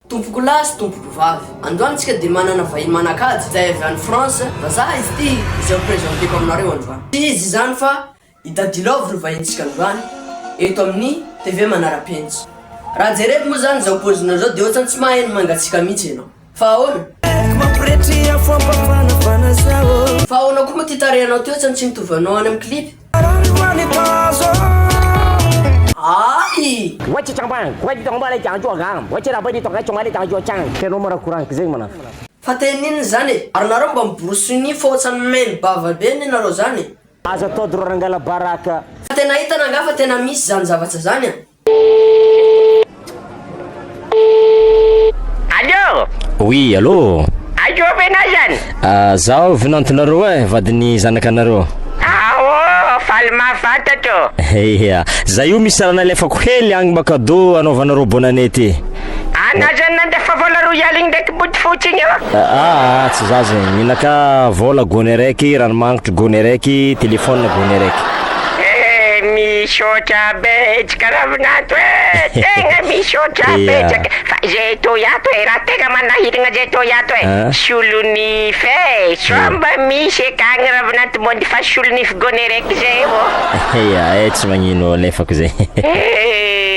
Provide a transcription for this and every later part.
Tompoko lahy sy tompoko vavy, androany tsika dia manana vahiny manan-kaja izay avy any France, vazaha izy ity izay ho presenteko aminareo androany. Tsy iza izany fa i Daddy Love no vahintsika androany eto amin'ny TV Manara-penitra. Raha jereko moa izany izao paozinao izao dia ohatrany tsy mahay ny mangatsiaka mihitsy ianao. Fa ahoana? Fa ahoana koa moa ity tarehinao ity ohatrany tsy mitovy anao any amin'ny clip? Fa teny inona izany e? Ary nareo mba miborosy ny fa ohatrany main bava be anie nareo zany e. Aza ataody ro rangalabaraka. Fa tena hitana angaha fa tena misy zany zavatra zany a? Oui allô. Aiza oa ve nao zany? Ah, zaho vinantonareo eh, vadin'ny zanakanareo. Ah oh, faly mahafantatro. Eia, zay io misy raha nalefako hely agny mba cadeau anaovanareo bonne année ty. Ana zany nandefa vola royale iny ndraiky bodo fotsy iny ô. Aa tsy za zegny, mila ka vola gony araiky, ranomagnitry gony araiky, téléphone gony araiky. Eh misaotra betsaka Ravinanto eh! Tegna misaotra betsaka eh! Fa zay toy ato eh, raha tegna manahiragna zay toy ato eh, solonify eh! Sao mba misy ekagny Ravinanto mody fa solonify gony araiky zay ô! Eia eh, tsy magnino, alefako zay. Eh!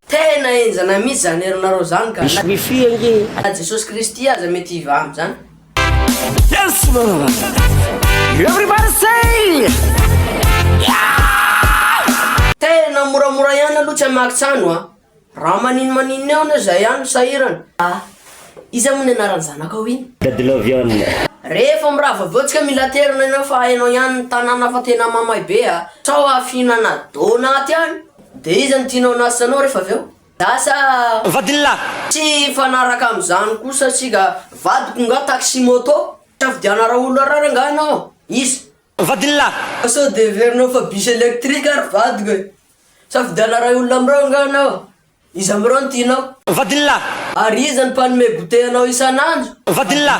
Tena henjana mihitsy zany herinareo zany ka! Misy wifi ange. Na Jesosy Kristy aza mety hivaha amzany. Tena moramora ihany aloha tsy hamaky tsano a! Raha maninomaninona eo anie zay ihany no sahirana. Ah! Iza moa ny anaran'ny zanakao iny? Dadilove. Rehefa mirava avy eo tsika mila aterina enao fa enao ihany ny tanàna fa tena mamay be a! Sao hahafihinana donat any? De iza no tianao anasa anao refa avy eo? Za sa. Vadin'lah? Tsy hifanaraka amzany koa satria ga vadiko nga taxi moto? Safidiana raolorara nga anao? Iza. Vadin'lah? Fa sao de heverinao fa bus electrique ary vadiko e? Safidiana ray olona amreo nga anao? Iza amreo no tianao? Vadin'lah? Ary iza no mpanome goûter anao isan'andro? Vadin'lah?